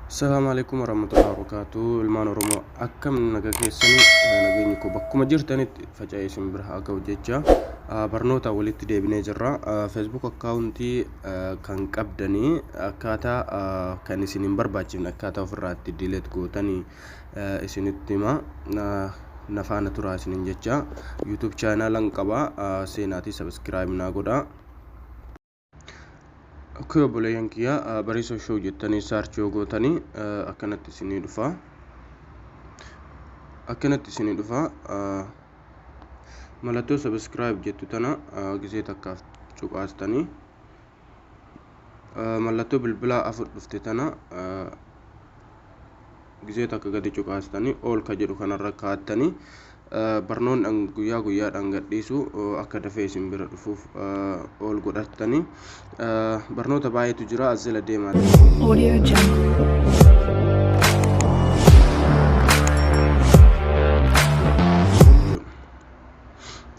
Salaamu alaikum warahmatullahi wabarakatuh. Ilmaan Oromoo akkam naga keessanii nageenyi koo bakkuma jirtanitti faca'ee isin bira haa ga'u jecha barnoota walitti deebinee jirra. Facebook akkaawuntii kan qabdanii akkaataa kan isin hin barbaachifne akkaataa ofirraatti diileet gootanii isinitti hima. Na faana turaa isinin jecha. YouTube chaanaalan qaba seenaatii sabiskiraayib naa godhaa. Akkoo obboleeyyan kiyyaa bariisa show jettanii search yoo gootanii akkanatti isinii dhufa. Akkanatti isinii dhufa. Mallattoo subscribe jettu tana gisee takkaaf cuqaastanii mallattoo bilbilaa afur dhufte tana Gizee takka gadi cuqaastanii All ka jedhu kanarra kaattanii barnoonni an guyyaa guyyaadhaan gadhiisu akka dafee isin bira dhufuuf All godhattanii barnoota baay'eetu jira as jala deemaa daawwadhaa. Audio Jungle.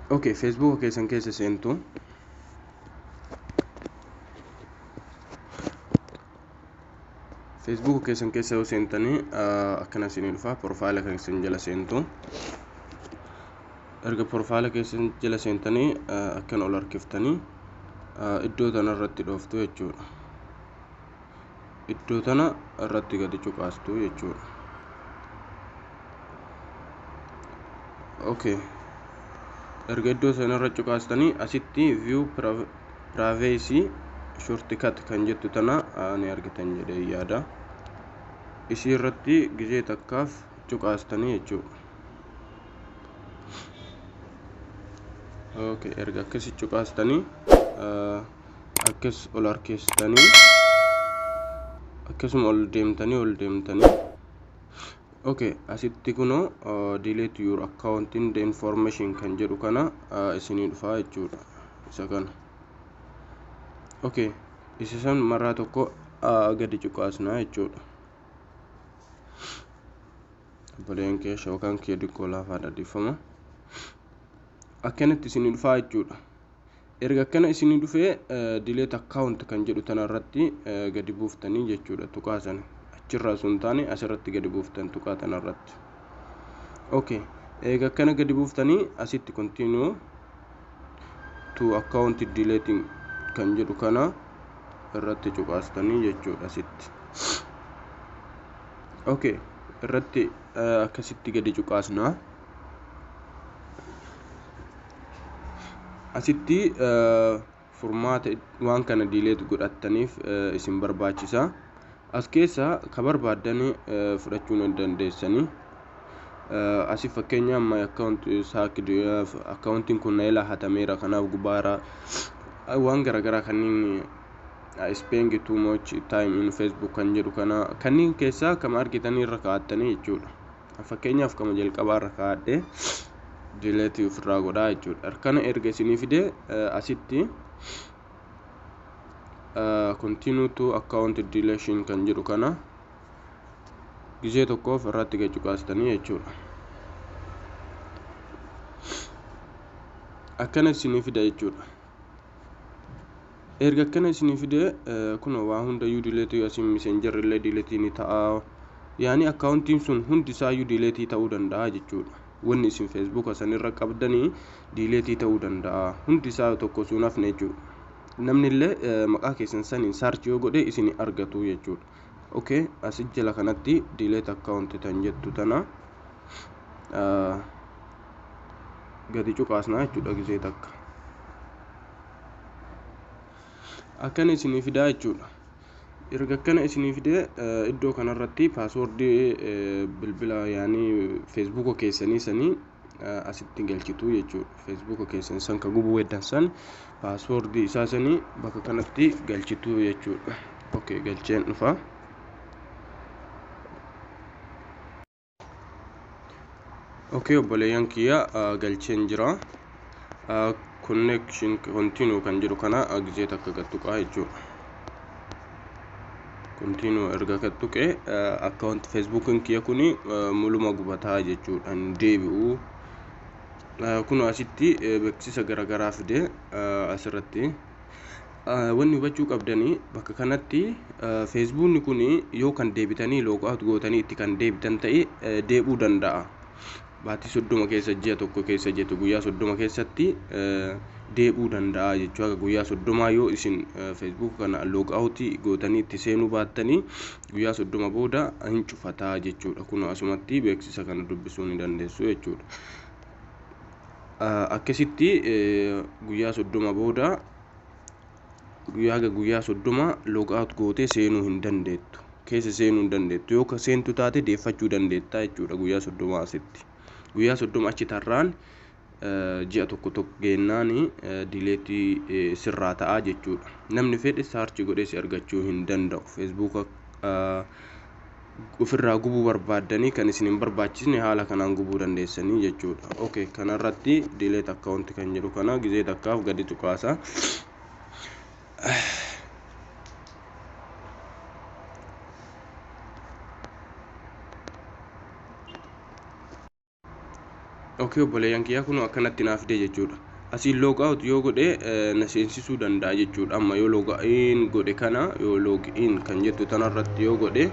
ok feesbuuka keessan keessa seentu Facebook keessan keessa yoo seentanii akkana isinii dhufa profaayila kan isin jala seentu erga profaayila keessan jala seentanii akkana ol harkiftanii iddoo tana irratti dhooftu jechuudha iddoo tana irratti gadi cuqaastu jechuudha okay erga iddoo sana irra cuqaastanii asitti view Privacy shortcut kan jettu tana ni argitan jedhee yaada. Isii irratti gizee takkaaf cuqaastanii jechuudha. Okay, erga akkasi cuqaastanii akkas ol harkeessitanii akkasuma ol deemtanii ol deemtanii ok asitti kuno delete your account in the information kan jedhu kana isinii dhufaa jechuudha isa kana ok isa san maraa tokko gadi cuqaasnaa jechuudha obboleen kee shookaan kee diqqoo laafaadha dhiifama akkanatti isinii dhufaa jechuudha Erga akkana isinii dhufee delete account kan jedhu tana irratti gadi buuftanii jechuudha tuqaa sana achirraa osoo hin taane asirratti gadi buuftan tuqaa tana irratti okay eega akkana gadi buuftanii asitti continue to account deleting kan jedhu kana irratti cuqaastanii jechuudha asitti okay irratti akkasitti gadi cuqaasnaa asitti furmaata waan kana diileet godhattaniif isin barbaachisa as keessaa ka barbaaddan fudhachuu ni dandeessanii asi fakkeenya amma akkaawunti saak akkaawuntiin kun na ilaa hatameera kanaaf gubaara waan garaagaraa kanneen spending too much time in facebook kan jedhu kana kanneen keessaa kama argitan irra kaa'attanii jechuudha fakkeenyaaf kama jalqabaa irra kaa'adhe dileetii ofirraa godhaa jechuudha harkana erga isinii fide asitti continue to account deletion kan jedhu kana gizee tokkoof irratti gad cuqaastanii jechuudha akkana isinii fida jechuudha erga akkana isinii fide kunoo waa hundayyuu dileetii asiin miseenjarri illee dileetii ni ta'a yaani akkaawuntiin sun hundi isaayyuu dileetii ta'uu danda'a jechuudha wanni isin feesbuuka sanirra qabdanii dileetii ta'uu danda'a hundi isaa tokko suun hafne jechuudha namni illee maqaa keessan saniin saarchi yoo godhe isin argatu jechuudha ok asi jala kanatti delete account tan jettu tana gadi cuqaasnaa jechuudha gisee takka akkana isinii fidaa jechuudha erga akkana isinii fidee iddoo kanarratti paaswoordii bilbila yaanii feesbuuka keessanii sanii asitti galchitu jechuudha. Feesbuuka keessan san ka gubuu heddan san paaswoordii isaa sanii bakka kanatti galchitu jechuudha. Okay galcheen dhufa. Okay obboleeyyan kiyya galcheen jira. connection continue kan jedhu kana gizee takka gad tuqaa jechuudha. Continue erga gad tuqee akkaawunti feesbuukiin kiyya kun muluma gubataa jechuudha hin deebi'u. Kun asitti beeksisa garaagaraa fide asirratti. Wanni hubachuu qabdanii bakka kanatti feesbuukni kun yoo kan deebitanii loogaawut gootanii itti kan deebitan ta'e deebi'uu danda'a. baatii soddoma keessa ji'a tokko keessa jetu guyyaa soddoma keessatti deebi'uu danda'a jechuu haga guyyaa soddomaa yoo isin feesbuuk kana loog awutii gootanii itti seenuu baattanii guyyaa soddoma booda hin cufataa jechuudha kun asumatti beeksisa kana dubbisuu ni dandeessu jechuudha akkasitti guyyaa soddoma booda guyyaa haga guyyaa soddoma log out gootee seenuu hin dandeettu keessa seenuu hin dandeettu yoo ka seentu taate deeffachuu dandeetta jechuudha guyyaa soddoma asitti guyyaa soddoma achi tarraan ji'a tokko tokko geennaan dileetii sirraa ta'a jechuudha namni fedhe saarchi godhee si argachuu hin danda'u feesbuuka ofirraa gubuu barbaaddanii kan isin hin barbaachisne haala kanaan gubuu dandeessanii jechuudha. Ok kanarratti delete account kan jedhu kana gizee takkaaf gadi tuqaasa. ok obboleeyyan kiyyaa kunoo akkanatti naa fidee jechuudha asiin log out yoo godhe na seensisuu danda'a jechuudha amma yoo log in godhe kana yoo log in kan jettu tanarratti yoo godhe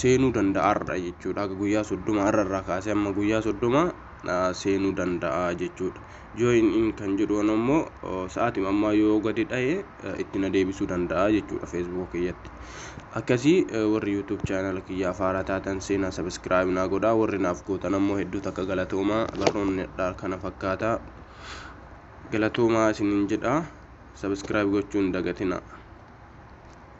seenuu danda'a har'a jechuudha akka guyyaa soddoma har'a irraa kaasee amma guyyaa soddoma seenuu danda'a jechuudha join in kan jedhu ammoo sa'aatima ammaa yoo gadi dha'e itti na deebisuu danda'a jechuudha feesbuuka kiyyatti akkasii warri yuutuub chaanala kiyyaaf haaraa taatan seenaa sabiskiraayib naa godhaa warri naaf gootan ammoo hedduu takka galatoomaa barnoonni kana fakkaata galatoomaa isinin jedha sabiskiraayib gochuun dagatina